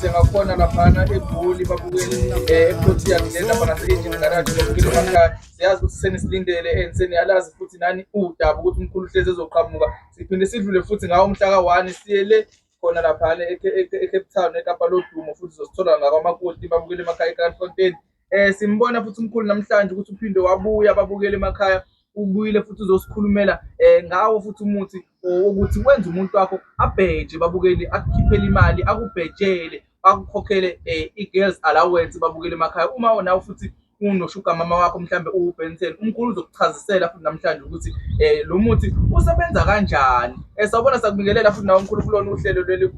sengakhona laphana egoli babukele eprotein lena bona seyinje ngarathi babukele emakhaya siyazi ukuthi senisilindele and seniyalazi futhi nani udaba ukuthi umkhulu hlezi ezoqhamuka siphinde sidlule futhi ngawo umhla ka-one siyele khona laphana ecape town ekapa lodumo futhi zosithola ngakwamakoti babukele emakhaya ekrafontein um eh, simbona futhi umkhulu namhlanje ukuthi uphinde wabuya babukele emakhaya ubuyile futhi uzosikhulumela um ngawo futhi umuthi wokuthi wenze umuntu wakho abheje babukele akukhiphele imali akubhejele bakukhokhele eh, i-girls allowance babukele emakhaya uma nawe futhi unoshuga mama wakho mhlawumbe uwubhensen umkhulu uzokuchazisela futhi namhlanje ukuthi um lo muthi usebenza kanjani um sawubona sakubingelela futhi nawe mkhulu kulona uhlelo leli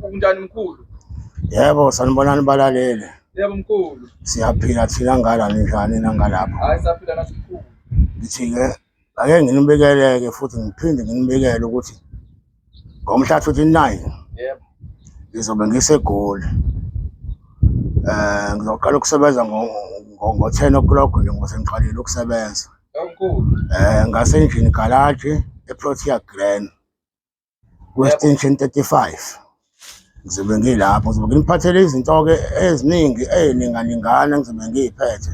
kunjani mkhulu yebo sanibonani balalele yebo mkhulu siyaphila thina ngala ninjani nangalapho hayi saphila nasimkhulu ngithi-ke Ake nginibikeleke futhi ngiphinde nginibikele ukuthi ngomhla 29 yebo ngizobe ngisegoli eh ngizoqala ukusebenza ngo-10 o'clock nje ngoba ngiqalile ukusebenza kakhulu eh ngasendlini galaji eprotea grand kwe-extension 35 ngizobe ngilapho ngizobe nginiphathele izinto-ke eziningi ey'ninganingana ngizobe ngiy'phethe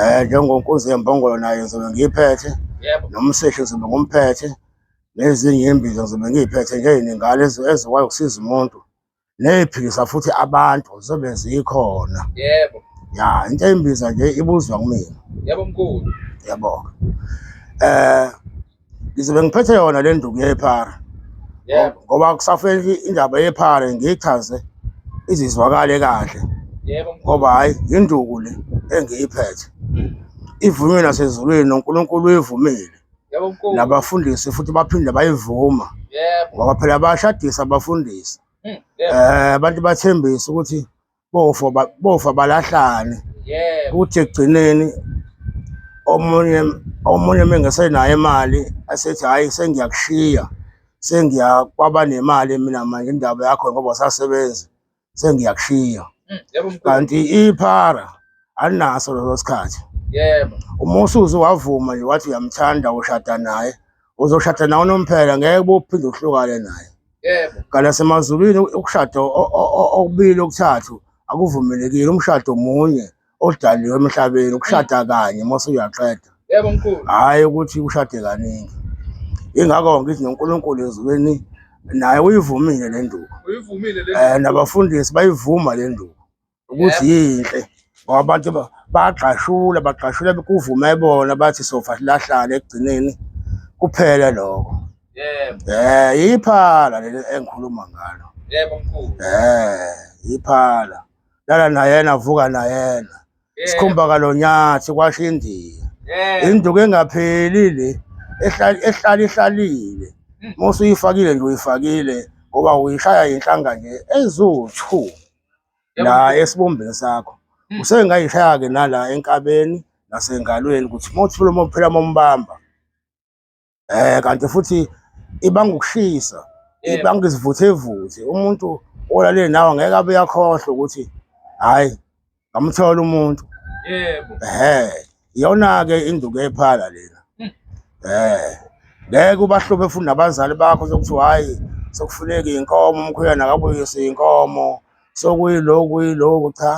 um njengonkunzi yembongolo nayo ngizobe ngiyiphethe nomseshi ngizobe ngumphethe nezinye iy'mbiza ngizobe ngiy'phethe nje ey'ningana ezikwazi ukusiza umuntu neyiphikisa futhi abantu zobe zikhona yebo ya into embiza nje ibuzwa kumina yebo mkhulu yebo eh ngizobe ngiphethe yona le nduku yephara yebo ngoba kusafeli indaba yephara ngichaze izizwakale kahle yebo ngoba hayi induku le engiyiphethe ivunywe nasezulwini noNkulunkulu uyivumile nabafundisi futhi baphinde bayivuma ngoba phela bayashadisa abafundisi um abantu bathembise ukuthi bofa bofa balahlane ukuthi ekugcineni omunye omunye mengesenayo imali asethi hhayi sengiyakushiya sengiya kwaba nemali mina manje indaba yakho ngoba usasebenzi sengiyakushiya mm, yebo mkhulu kanti iphara alinaso leso sikhathi yebo uma usuze wavuma nje wathi uyamthanda ushada naye uzoshada nawe unomphela ngeke bophinde uhlukane naye yebo kanti nasemazulwini ukushada o- o- o- okubili okuthathu akuvumelekile umshado munye odaliwe emhlabeni ukushada mm. kanye mose uyaqeda yebo mkhulu hayi ukuthi ushade kaningi ingakho ngithi noNkulunkulu ezulwini naye uyivumile le nduku uyivumile le eh nabafundisi bayivuma le nduku ukuthi yinhle ngoba abantu bagqashula bagqashula kuvume bona bathi sofa silahlane ekugcineni kuphele lokho yebo eh iphala leli engikhuluma ngalo yebo mkhulu eh iphala lala na yena vuka na yena sikhumba kalonyathi kwasho indiya induku engapheli le ehlala ihlalile hmm. mose uyifakile nje uyifakile ngoba uyishaya yinhlanga nje eziwu-two la esibumbeni sakho hmm. usengayishaya-ke nala enkabeni nasengalweni ukuthi mothula mophela mombamba eh kanti futhi ibanga ukushisa ibanga izivuthe evuthe umuntu olalele nawe ngeke abe yakhohlwa ukuthi hayi ngamthola umuntu yebo eh iyona ke induku ephala lena hmm. eh ngeke ubahlobe futhi nabazali bakho sokuthiwa hayi sokufuneka inkomo umkhwena akabuyise inkomo sokuyiloku yiloku cha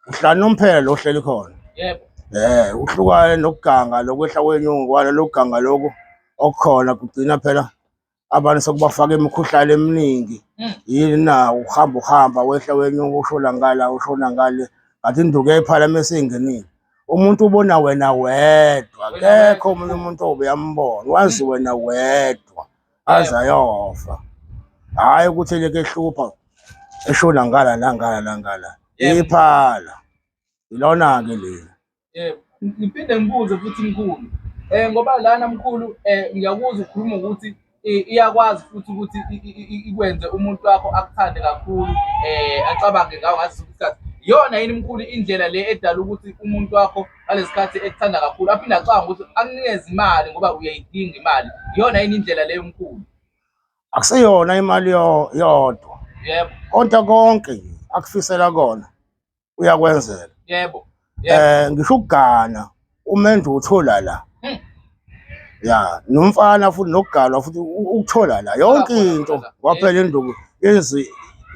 uhlala nomphela lo hleli khona yebo eh uhlukane nokuganga lokwehla kwenyuku kwalo lokuganga lokho okukhona kugcina phela abantu sekubafaka imikhuhlane eminingi hmm. yini na uhamba uhamba wehla wenyuka ushona ngala ushona ngale ngathi induku yayiphalamisa seyingenile umuntu ubona wena wedwa kekho omunye umuntu obuyambona wazi wena wedwa aze ayofa hhayi ukuthi eleke ehlupha eshona ngala nangala nangala Yebo. iphala ilona-ke leli Yebo. Ngiphinde ngibuze futhi mkhulu. Eh ngoba lana mkhulu eh ngiyakuzwa ukhuluma ukuthi i- iyakwazi futhi ukuthi i- i- i- ikwenze umuntu wakho akuthande kakhulu eh acabange ngawo ngaso sonke isikhathi. Iyona yini mkhulu indlela le edala ukuthi umuntu wakho ngalesikhathi ekuthanda kakhulu aphinde acanga ukuthi akunikeze imali ngoba uyayidinga imali iyona yini indlela leyo mkhulu akuseyona imali yo- yodwa yebo konke konke nje akufisela kona uyakwenzela yebo yebo eh ngisho ukugana umendu uthola la Hmm. ya nomfana futhi nokugalwa futhi u- ukuthola la yonke Lapho, into lapho, lapho. kwaphela induku yenzi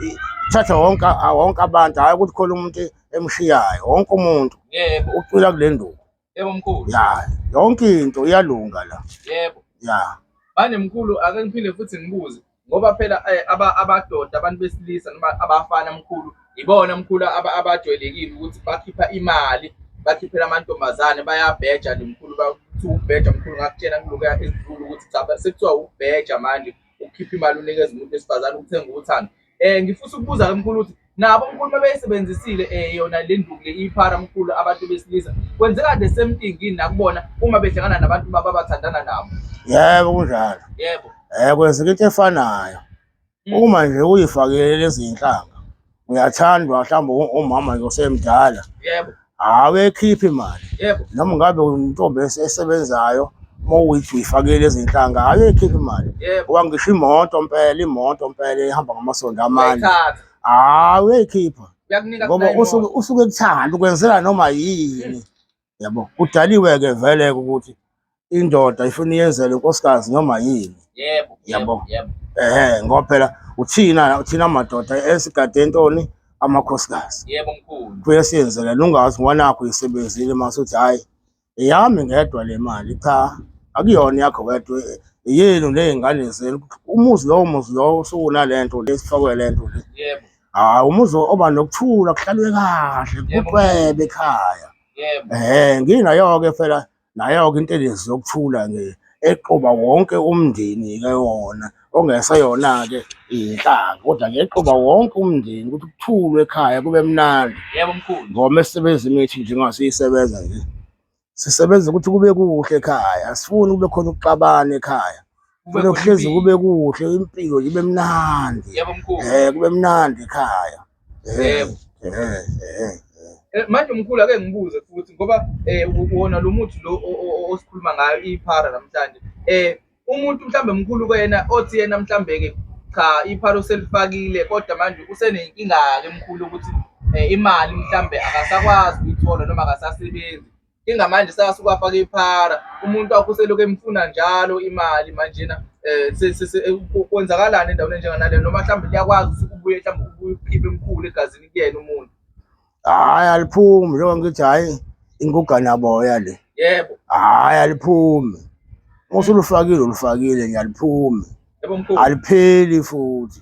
i- thatha wonke a- wonke abantu hayi ukuthi khona umuntu emshiyayo wonke umuntu yebo ucwila kule nduku yebo mkhulu ya yonke into iyalunga la yebo ya manje mkhulu ake ngiphinde futhi ngibuze ngoba phela eh, aba- abadoda abantu besilisa noma abafana mkhulu ibona mkhulu aba- abajwayelekile ukuthi bakhipha imali bakhiphela amantombazane bayabheja nje mkhulu bathi ubheja mkhulu ngakutshela kulokuya ezidlula ukuthi cha sekuthiwa ubheja manje ukhipha imali unikeza umuntu wesifazane ukuthenga uthando Eh ngifisa ukubuza ke mkhulu ukuthi nabo mkhulu mabeyisebenzisile eh yona le nduku le iphara mkhulu abantu besilisa kwenzeka the same thing yini nakubona uma behlangana nabantu baba bathandana nabo. Yebo kunjalo. Yebo. Eh kwenzeka into efanayo. Mm. Uma nje uyifakele lezi zinhlanga uyathandwa mhlawumbe umama nje osemdala. Yebo. Awekhiphi imali. Yebo. Noma ngabe untombi esebenzayo mowuthi uyifakele izinhlanga ayekhiphi imali. Ngoba ngisho imoto mpela imoto mpela ihamba ngamasondo amane. Hayi uyayikhipha. Ngoba usuke usuke kuthanda ukwenzela noma yini. Yabo. Kudaliwe ke vele ukuthi indoda ifuna iyenzele inkosikazi noma yini yebo yebo yebo ehe ngoba phela uthina uthina amadoda esigade entoni amakhosikazi yebo mkhulu kuye siyenzele lungazi ngwanakho isebenzile masuthi hayi eyami ngedwa le mali cha akuyona yakho wedwa yenu nezingane zenu umuzi lowo muzi lowo usukuna lento lesifakwe lento le yebo hayi umuzi oba nokuthula kuhlalwe kahle kucwebe ekhaya yebo eh nginayo ke phela Nayo-ke intelezi yokuthula-ke eqoba wonke umndeni-ke yona ongeseyona-ke inhlanga kodwa-ke eqoba wonke umndeni ukuthi kuthulwe ekhaya kube mnandi yebo mkhulu ngoba esisebenzi imithi njengoba siyisebenza nje sisebenza ukuthi kube kuhle ekhaya asifuni kube khona ukuxabana ekhaya Kufanele kuhlezi kube kuhle impilo ibe mnandi. Yebo mkhulu. Eh kube mnandi ekhaya. Eh, Yebo. eh, eh, eh. Eh, Manje mkhulu ake ngibuze futhi ngoba eh wona lo muthi lo o- o- o- osikhuluma ngayo iphara namhlanje. Eh umuntu mhlambe mkhulu kuyena othi yena mhlambe ke cha iphara uselifakile kodwa manje usenenkinga ke mkhulu ukuthi eh, imali mhlambe akasakwazi ukuyithola noma akasasebenzi. inga manje sasukwafaka iphara umuntu wakho uselokhu emfuna njalo imali manjena um kwenzakalani endaweni enjenganaleyo noma mhlawumbe liyakwazi ukuthi ubuye mhlawumbe ubuye ukhiphe emkhulu egazini kuyena umuntu hhayi aliphumi njengoba ngithi hhayi inguganaboya le yebo hhayi aliphumi usulufakile ulufakile nje aliphumi alipheli futhi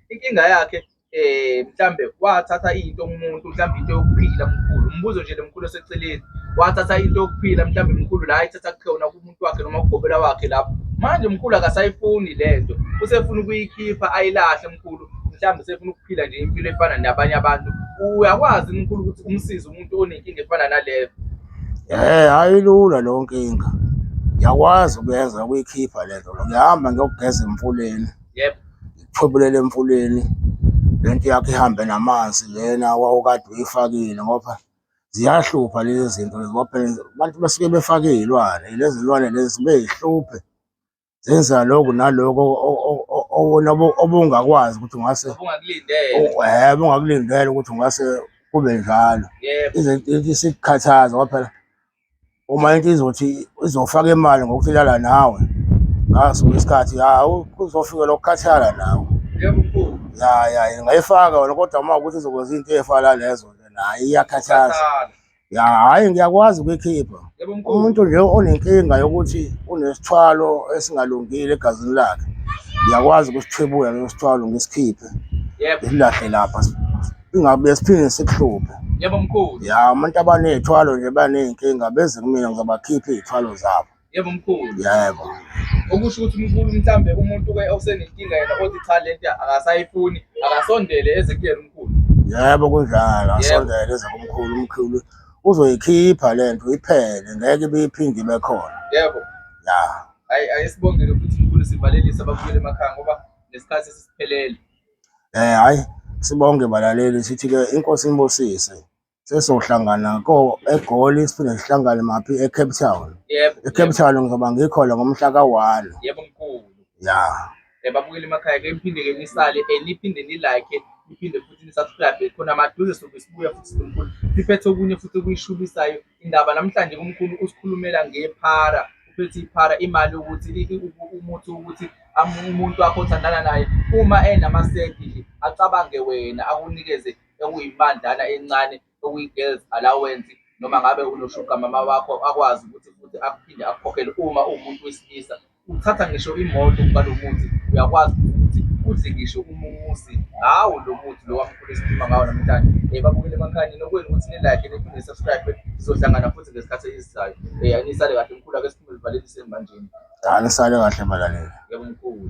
inkinga yakhe eh mhlambe wathatha into kumuntu mhlambe into yokuphila mkhulu umbuzo nje lemkhulu oseceleni wathatha into yokuphila mhlambe mkhulu la ithatha kukhona kumuntu wakhe noma kugobela wakhe lapho manje mkhulu akasayifuni lento usefuna ukuyikhipha ayilahle mkhulu mhlambe usefuna ukuphila nje impilo efana nabanye abantu uyakwazi mkhulu ukuthi umsize umuntu onenkinga efana naleyo eh hayi lula lonkinga ngiyakwazi ukuyenza ukuyikhipha lento ngiyahamba ngiyogeza emfuleni yebo iphophulele emfuleni lento yakhe ihambe namanzi lena wawukade uyifakile ngoba ziyahlupha lezi zinto lezi ngoba phela abantu basuke befake iy'lwane lezi zilwane lezi zibe yihluphe zenza lokhu nalokhu o- o- o- o- okona obu- obungakwazi ukuthi ungase obungakulindele u- eh, obungakulindela ukuthi ungase kube njalo yebo Izinto- isikukhathaza ngoba phela uma into izothi izofaka imali ngokuthi lala nawe ngaso isikhathi ya kuzofika lokukhathala nawe ya ya ingayifaka wena kodwa uma ukuthi izokwenza into efana lezo naye iyakhathaza ya hayi ngiyakwazi ukuyikhipha umuntu nje onenkinga yokuthi unesithwalo esingalungile egazini lakhe ngiyakwazi ukusithwebula leso sithwalo ngisikhiphe ngisilahle lapha ingabe siphinde sikuhluphe yebo mkhulu ya abantu abaney'thwalo nje baney'nkinga beze kumina ngizobakhipha iy'thwalo zabo yebo mkhulu yebo okusho ukuthi mkhulu mhlambe umuntu ke osenenkinga yena othi cha le nto akasayifuni akasondele eze kuyena umkhulu yebo kunjalo asondele eze kumkhulu umkhulu uzoyikhipha le nto iphele ngeke ibiyiphinde ibe khona yebo ya hayi ayisibongele futhi mkhulu sivalelise ababuyele emakhaya ngoba nesikhathi sisiphelele Eh hayi sibonge balaleli sithi ke inkosi inibusise. Sesohlangana ko eGoli siphinde sihlangane maphi eCape Town. Yebo. ECape Town ngizoba ngikhona ngomhla ka-1. Yebo mkhulu. Ya. Ebabukeli emakhaya ke niphinde ke nisale eh niphinde ni like niphinde futhi ni subscribe khona maduze sobe sibuya futhi nomkhulu siphethe okunye futhi okuyishubisayo Indaba namhlanje kumkhulu usikhulumela ngephara uphethe iphara imali ukuthi umuthi ukuthi umuntu wakho othandana naye uma enamasenti nje acabange wena akunikeze okuyimandlana encane okuyi-girls allowance noma ngabe unoshuga mama wakho akwazi ukuthi futhi akuphinde akukhokhele uma uwumuntu wesilisa. Uthatha ngisho imoto ukuba lo muthi uyakwazi ukuthi udle ngisho umuzi ngawo lo muthi lo wamkhulu esikhuluma ngawo namhlanje um eh, babukele emakhanyeni okwenu ukuthi nilike niphinde subscribe sizohlangana futhi ngesikhathi esizayo um eh, anisale kahle mkhulu ake siphume livalelise manjeni anisale kahle balaleli yebo mkhulu